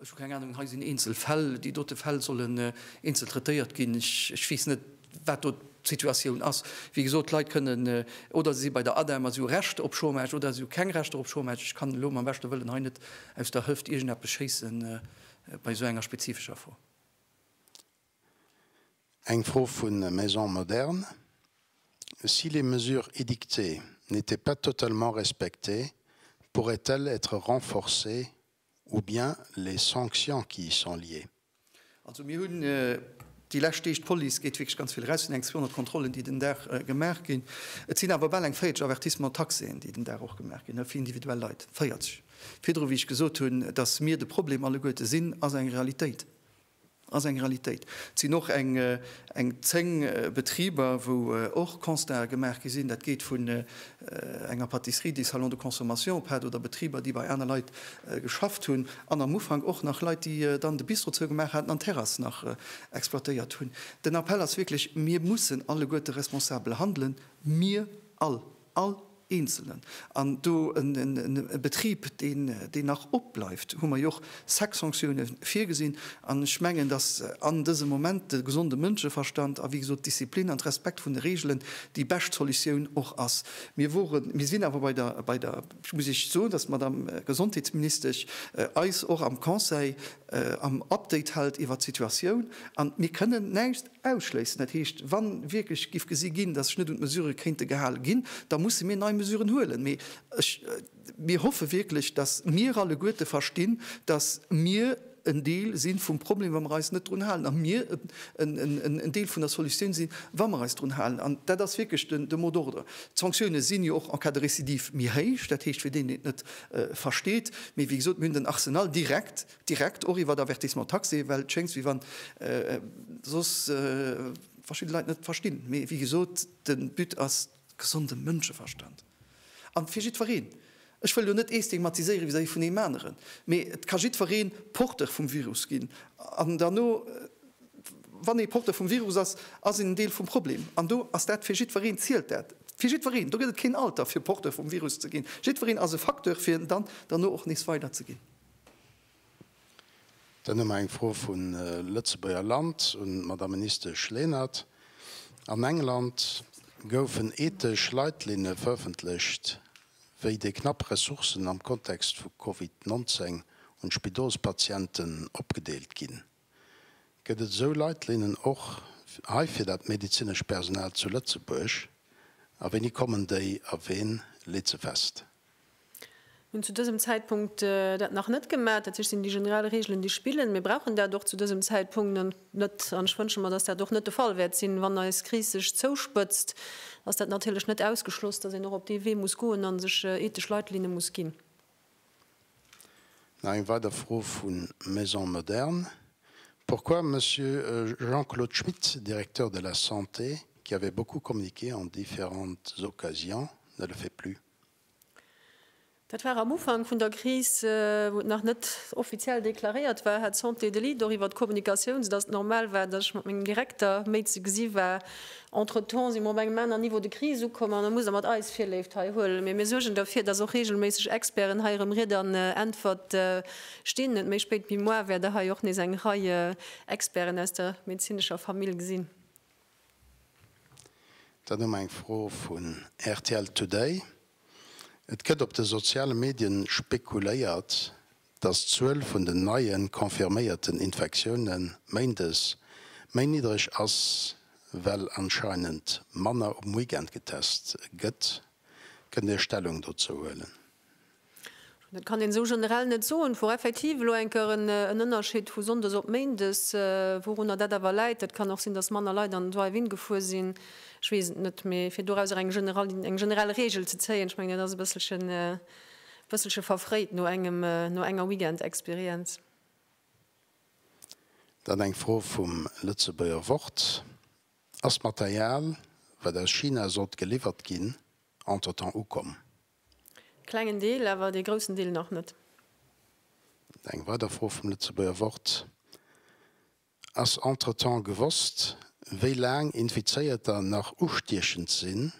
Ech hu keng Ahnung, hei sinn eenzel Fäll. Déi dote Fäll sollen eenzel traitéiert ginn. Ech weess net, wat do d'Situatioun ass. Wéi gesot, d'Leit kënnen oder se si bei der ADEM a si hu Recht op Chômage oder si hu keng Rechter op Chômage. Ech kann elo mam beschte Wëllen hei net aus der Hëft iergendeppes schéisse bei esou enger spezifescher Fro. Eng Fro vu Maison Moderne, Si les mesures édictées n'étaient pas totalement respectées, pourraient-elles être renforcées ou bien les sanctions qui y sont liées? Also mir hunn déi lescht Deeg, d'Police gétt wierklech ganz vill eraus, et sinn eng 200 Kontrollen, déi den Dag gemaach ginn. Et sinn awer bal eng 40 Avertissements taxéen, déi den Dag och gemaach ginn, fir individuell Leit. 40! Virdru, wéi ech gesot hunn, datt mir de Problem alleguerte sinn, ass eng Realitéit. Ass eng Realitéit. Et sinn och eng 10 Betriber, wou och Constaten gemaach gi sinn. Dat geet vun enger Patisserie, déi Salon de consommation op hat, oder Betriber, déi bei aner Leit geschafft hunn, an am Ufank och nach Leit, déi dann de Bistro zougemaach haten an d'Terrass nach exploitéiert hunn. Den Appell ass wierklech, Mir mussen alleguerte responsabel handelen, mir all! All Eenzelen. An do e Betrib, deen nach opbleift, hu mer jo och sechs Sanktioune virgesinn. An ech mengen, dass an dësem Moment de gesonde Mënscheverstand a wéi gesot d'Disziplin an d'Respekt vun de Reegelen déi bescht Solutioun och ass. Mir woren, mir sinn awer bei der, bei der, muss ech soen, dass d'Madame Gesondheetsministesch eis och am Conseil am Update hält iwwert d'Situatioun. An mir kënnen näischt. Ausschléissen, dat heescht, wa wierklech géif gesi ginn, datt sech net un d'Mesurë kéinte gehale ginn, da musse mir nei Mesuren huelen. Mee ech, mir hoffe wierklech, datt mir alleguerte verstinn, datt mir en Deel si vum Problem, wa mer eis net drun halen, a mir en Deel vun der Solutioun sinn, wa mer eis drun halen. An dat ass wierklech de mot d'ordre. D'Sanktioune sinn jo och en cas de récidive méi héich, dat heescht, fir deen, deen et net versteet. Mee wéi gesot, mir hunn den Arsenal direkt, Direkt och iwwer d'Avertissement taxé, well et schéngt wéi wann soss verschidde Leit net verstinn. Mee wéi gesot, de But ass gesonde Mënscheverstand. A fir jiddwereen, ech wëll elo net ee stigmatiséiere vis-à-vis vun eem aneren, mee et ka jiddweree Porteur vum Virus ginn. An derno, wann ee Porteur vum Virus ass, ass een en Deel vum Problem. An do ass dat, fir jiddwereen zielt dat. Fir jiddwereen. Do gëtt et keen Alter fir Porteur vum Virus ze ginn. Jiddwereen ass e Facteur, fir et dann derno och nees weiderzeginn. Dann hu mer eng Fro vu Lëtzebuerger Land un d'Madame Ministesch Lenert. An England goufen ethesch Leitlinne verëffentlecht, wéi déi knapp Ressourcen am Kontext vu Covid 19 un d'Spidolspatienten opgedeelt ginn. Gëtt et esou Leitlinnen och hei fir dat medezinescht Personal zu Lëtzebuerg? A wéini kommen déi a ween leet se fest? Mir hunn zu dësem Zäitpunkt dat nach net gemaach. Dat heescht, et sinn déi generell Reegelen, déi spillen. Mir brauchen dat och zu dësem Zäitpunkt net. An ech wënsche mer, dass dat och net de Fall wäert sinn, wann eis Kris sech zouspëtzt, ass dat natierlech net ausgeschloss, dass een och op dee Wee muss goen a sech ethesch Leitlinne muss ginn. Nach eng weider Fro vu Maison Moderne, Pourquoi Monsieur Jean-Claude Schmit, Directeur de la Santé, qui avait beaucoup communiqué en différentes occasions, ne le fait plus? Dat war am Ufank vun der Kris, wou et nach net offiziell deklaréiert war, hat d'Santé de Lille doriwwer d'Kommunikatioun, soudatt et normal war, datt ech mat mengem Direkter méi ze gesi war, Entretemps si mer op engem aneren Niveau de crise ukomm an da muss Der mat eis Virléift hei huelen. Mee mir suergen derfir, dass och regelméisseg Experten hei erëm Ried an Äntwert stinn. Net méi spéit wéi moar wäert Der hei och nees eng Rei Experten aus der medezinescher Famill gesinn. Dann hu mer eng Fro vun rtl Today. Et gëtt op de soziale Medien spekuléiert, dass d'Zuel vun den neie confirméierten Infektioune Méindes méi niddreg ass, well anscheinend manner um Weekend getest gëtt. Kënnt Dir Stellung dozou huelen? Dat kann een esou generell net soen. Et wor effektiv elo eng Kéier en Ënnerscheed vu Sonndes op Méindes. Wourunner dat awer läit, dat kann och sinn, dass manner Leit an den Drive-In gefuer sinn, ech weess et net. Mee fir dorauser eng generell Reegel ze zéien, ech mengen dat ass e bësselchen Bësselche verfréit no engem, no enger Weekend Experience. Dann eng Fro vum Lëtzebuerger Wort, Ass d'Material, wat aus China sollt geliwwert ginn, entretemps ukomm? Klengen Deel, awer dee groussen Deel nach net. Eng weider Fro vum Lëtzebuerger Wort, Ass entretemps gewosst, wéi laang Infizéierter nach ustiechend sinn?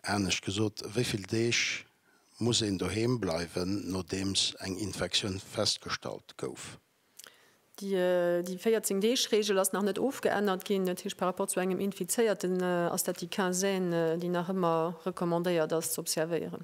Anescht gesot, wéi vill Deeg muss een doheem bleiwen, nodeems eng Infektioun festgestallt gouf? Déi 14 Deeg Reegel ass nach net ofgeännert ginn. Dat heescht, par rapport zu engem Infizéierten ass dat déi Quinzaine, déi nach ëmmer recommandéiert ass ze observéieren.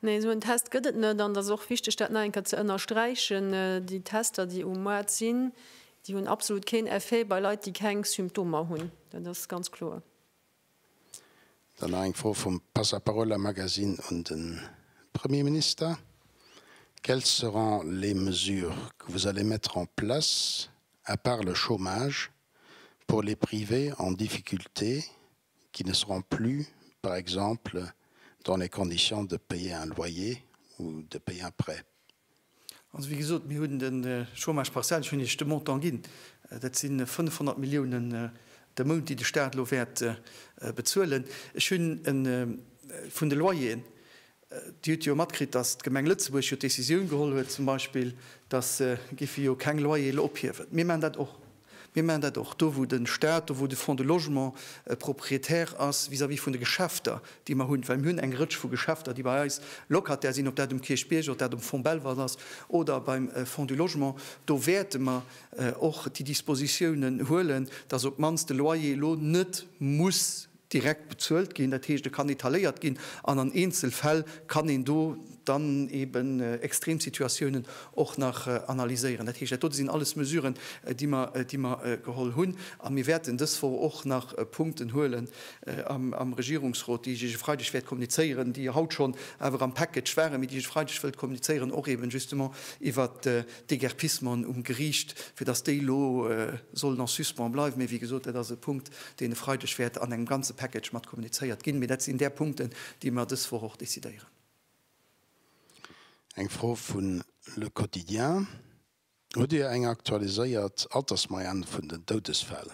Nee, esou en Test gëtt et net. An et ass och wichteg, dat nach eng Kéier ze ënnersträichen, Déi Tester, déi um Moart sinn, déi hunn absolut keen Effet bei Leit, déi keng Symptomer hunn. Dat ass ganz kloer. Dann nach eng Fro vum Passaparola-Magazine un de Premierminister, Quelles seront les mesures que vous allez mettre en place, à part le chômage, pour les privés en difficulté qui ne seront plus, par exemple, dans les conditions de payer un loyer ou de payer un prêt. Also, wéi gesot, mir hunn de Chômage partiel, ech hunn Iech de Montant ginn, dat si 500 Milliounen de Mount, déi de Stat elo wäert bezuelen. Ech hunn vun de Loyeren, Dir hutt jo matkritt, datt d'Gemeng Lëtzebuerg jo d'Decisioun geholl huet, zum Beispill, datt se géife jo keng Loyere ophiewen. Mir maachen dat och. Mir maachen dat och do, wou de Stat, do wou de Fonds de logement Propriétaire ass vis-à-vis vun de Geschäfter, déi mer hunn, well mir hunn eng Rëtsch vu Geschäfter, déi bei eis Locataire sinn, ob dat um Kierchbierg, ob dat um Fonds Belval ass oder beim Fonds du logement. Do wäerte mer och déi Dispositiounen huelen, datt op d'mannst de Loyer elo net muss direkt bezuelt ginn, dat heescht, e kann etaléiert ginn an an Eenzelfäll kann een do dann eeben Extremsituatiounen och nach analyséieren. Dat heescht, dat dote sinn alles Mesuren, déi mer, déi mer geholl hunn. A mir wäerten dës Woch och nach Punkten huelen am Regierungsrot, déi ech Iech e Freideg wäert kommunizéieren, déi jo haut schonn awer am Package waren, mee déi ech e Freideg wëllt kommunizéieren, och eeben justement iwwert d'Déguerpissementen um Geriicht, fir datt déi elo sollen en suspens bleiwen. Mee wéi gesot, dat ass e Punkt, deen e Freideg wäert an engem ganze Package mat kommunizéiert ginn. Mee dat sinn där Punkten, déi mer dës Woch och decidéieren. Eng Fro vu Le Quotidien, Hutt Dir eng aktualiséiert Altersmoyenne vun den Doudesfäll?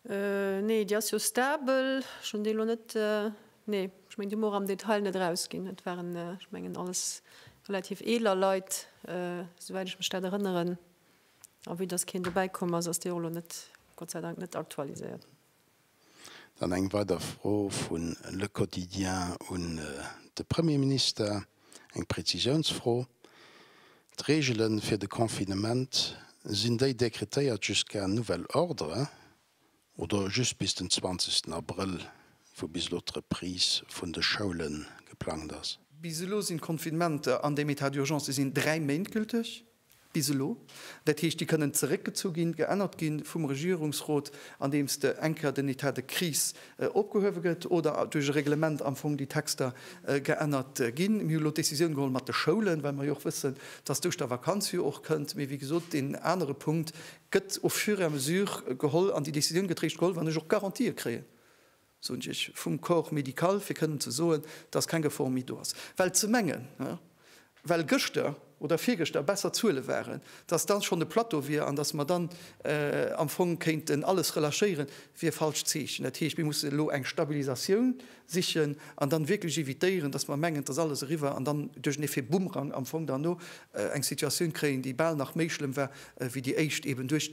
Nee, déi ass jo stabel. Ech hunn déi elo net, nee, ech mengen, déi hu mer och am Detail net erausginn. Et waren, ech mengen, alles relativ eeler Leit, esouwäit ech mech dat erënneren. A wéi dass keen dobäi komm ass, ass déi och elo net, Gott sei Dank, net aktualiséiert. Dann eng weider Fro vu Le Quotidien un de Premierminister, eng Prezisiounsfro. D'Reegele fir de Confinement, sinn déi dekretéiert jusqu'à nouvel ordre? oder just bis den 20. Abrëll, wou bis elo d'Reprise vun de Schoule geplangt ass. Bis elo sinn d'Confinementer an dem Etat d'urgence, se sinn dräi Méint gülteg, bis elo, dat heescht, déi kënnen zeréckgezu ginn, geännert gi vum Regierungsrot, andeems de eng Kéier den Etat de crise opgehuewe gëtt oder duerch e Reglement am Fong déi Texter geännert ginn. Mir hu elo d'Decisioun geholl mat de Schoulen, well mer jo och wëssen, dass duerch der Vakanz jo och kënnt. Mee wéi gesot, deen anere Punkt, gëtt au fur et à mesure geholl an déi Décisioun gëtt réischt geholl, wann ech och Garantië kréien, soen ech, vum Corps médical, fir kënnen ze soen, dass keng Gefor méi do ass. Well ze mengen, well gëschter oder virgëschter besser Zuele waren, dass da schonn e Plateau wier an dass mer dann am Fong kéinten alles relâchéieren, wier falscht Zeechen. Dat heescht, mir mussen elo eng Stabilisatioun sichen an dann wierklech evitéieren, dass mer mengen, et ass alles eriwwer an dann duerch en Effet Boomerang am Fong derno eng Situatioun kréien, déi bal nach méi schlëmm war wéi déi éischt, eben duerch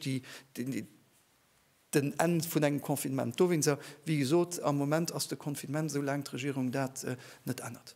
den Enn vun engem Confinement. Dowéinst, wéi gesot, am Moment ass de Confinement, esou laang d'Regierung dat net ännert.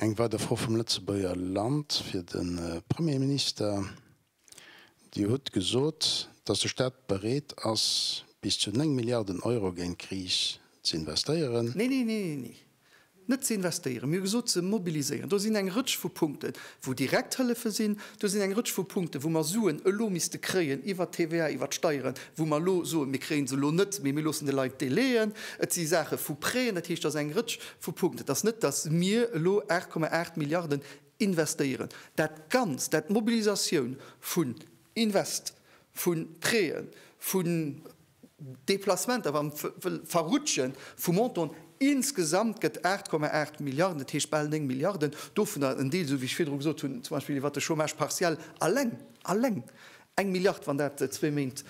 Eng weider Fro vum Lëtzebuerger Land fir de Premierminister. Dir hutt gesot, datt de Staat bereet ass, bis zu 9 Milliarden Euro géint d'Kris ze investéieren. Nee, nee, nee, nee, nee. Net ze investéieren. Mir hu gesot, ze mobiliséieren. Do sinn eng Rëtsch vu Punkte wou direkt Hëllefe sinn. Do sinn eng Rëtsch vu Punkte wou mer Suen elo misste kréien iwwert d'TVA, iwwert d'Steieren, wou mer elo soen, mir kréie se elo net, mee mir loossen de Leit Délaiën. Et si Saache vu Prêtën. Dat heescht, datt eng Rëtsch Vu Punkt. Et ass net, dass mir elo 8,8 Milliarden investéieren. Dat Ganzt, dat d'Mobilisatioun vun Invest, vu Prêten, vu Deplacementer, wa mer wëlle verrutschen, vu Montanten, insgesamt gëtt 8,8 Milliarden, dat heescht bal néng Milliarden, dovunner en Deel, esou wéi ech virdru gesot hunn, zum Beispill iwwert de Chômage partiel, alleng, alleng Eng Milliard, wann dat zwee Méint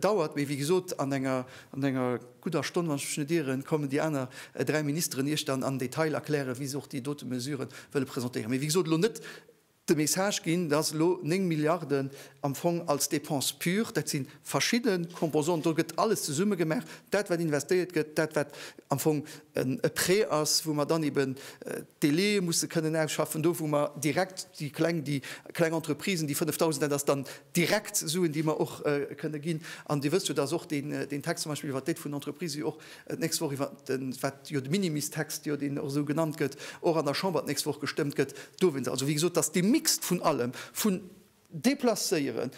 dauert. Mee wéi gesot, an enger gudder Stonn, wann ech mech net ieren, kommen déi aner dräi Ministeren Iech dann am Detail erklären, wéi se och déi dote Mesure wëlle presentéieren. Mee wéi gesot, elo net de Message ginn, dass elo néng Milliarden am Fong als Dépense pure, dat si verschidde Composanten, do gëtt alles zesumme gemaach, dat wat investéiert gëtt, dat wat am Fong e Prêt ass, wou mer dann eben d'Délaië musse kënnen ausschaffen, do wou mer direkt déi Kleng, déi kleng Entreprisen, déi 5.000, dat ass dann direkt Suen, déi mer och kënne ginn. An Dir wësst jo, dass och deen Text zum Beispill iwwert d'Aide vun den Entreprises jo och d'nächst Woch iwwert de, wat jo de Minimis-Text, jo deen och esou genannt gëtt, och an der Chamber d'nächst Woch gestëmmt gëtt dowéinst. Also wéi gesot, dass dee Mixte vun allem, vun Deplacéieren,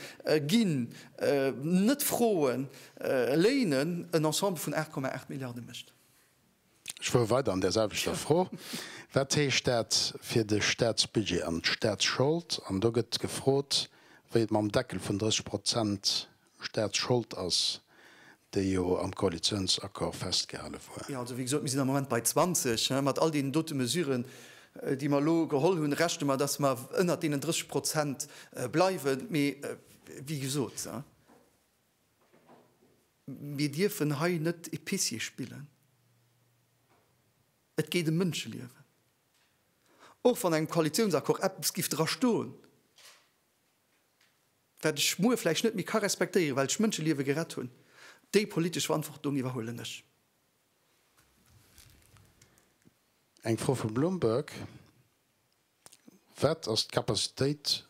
ginn, net froen, léinen, en Ensemble vun 8,8 Milliarde mécht. Ech fuere weider an där selwechter Fro. Wat heescht dat fir de Statsbudget an d'Statsschold? An do gëtt gefrot, wéi et mam Deckel vun 30 Prozent Staatsschold ass, déi jo am Koalitionsaccord festgehale wor. Jo, also wéi gesot, mir sinn am Moment bei 20. Mat all deenen dote Mesuren, déi mer elo geholl hunn, rechne mer, dass mer ënnert deenen 30 Prozent bleiwen. Mee wéi gesot, mir dierfen hei net Épicier spillen. Et geet ëm Mënscheliewen. Och wann an engem Koalitionsaccord eppes géif drastoen. wat ech muer vläicht net méi ka respektéieren, well ech Mënscheliewe gerett hunn, déi politesch Verantwortung iwwerhuelen ech. Eng Fro vum Bloomberg, Wat ass d'Capacitéit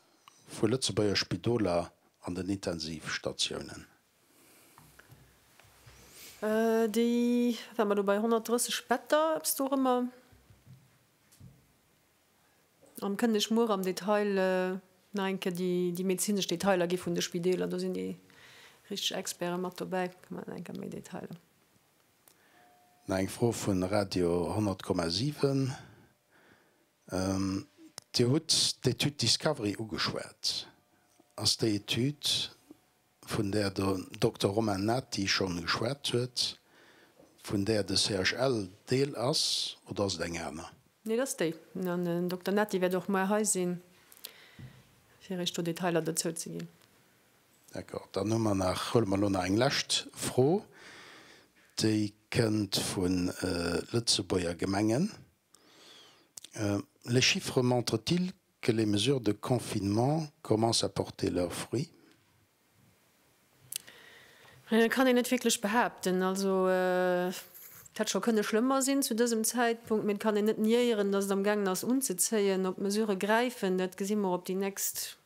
vu Lëtzebuerger Spidoler an den Intensivstatiounen? Déi waren mer do bei 130 Better, eppes dorëmmer. An kënnen ech muer am Detail nach eng Kéier déi medezinesch Detailer gi vun de Spideeler. Do sinn déi richteg Experten mat dobäi. Do kréie mer nach eng Kéier méi Detailer. Nach eng Fro vu Radio 100,7. Dir hutt d'Etüd Discovery ugeschwat. Ass déi Etüd vun där de Dokter Romain Nati schonn geschwat huet, vun där de CHL Deel ass, oder ass et eng aner? Nee, et ass déi. An den Dokter Nati wäert och muer hei sinn, fir Iech do Detailer dozou ze ginn. D'accord. Dann hu mer nach, huele mer elo nach eng lescht Fro. Déi kënnt vu Lëtzebuerger Gemengen, Les chiffres montrent-ils Que les mesures de confinement commencent à porter leurs fruits? Dat kann een net wierklech behaapten. Also, et hätt scho kënne schlëmmer sinn zu dësem Zäitpunkt, mee et kann een net niéieren, datt et amgaangen ass unzezéien. Ob d'Mesurë gräifen, dat gesi mer op déi nächst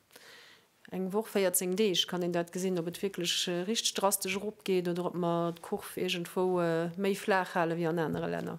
eng Woch, 14 Deeg kann een dat gesinn, ob et wierklech richteg drastesch eropgeet oder ob mer d'Kurv iergendwou méi flaach hale wéi an anere Länner.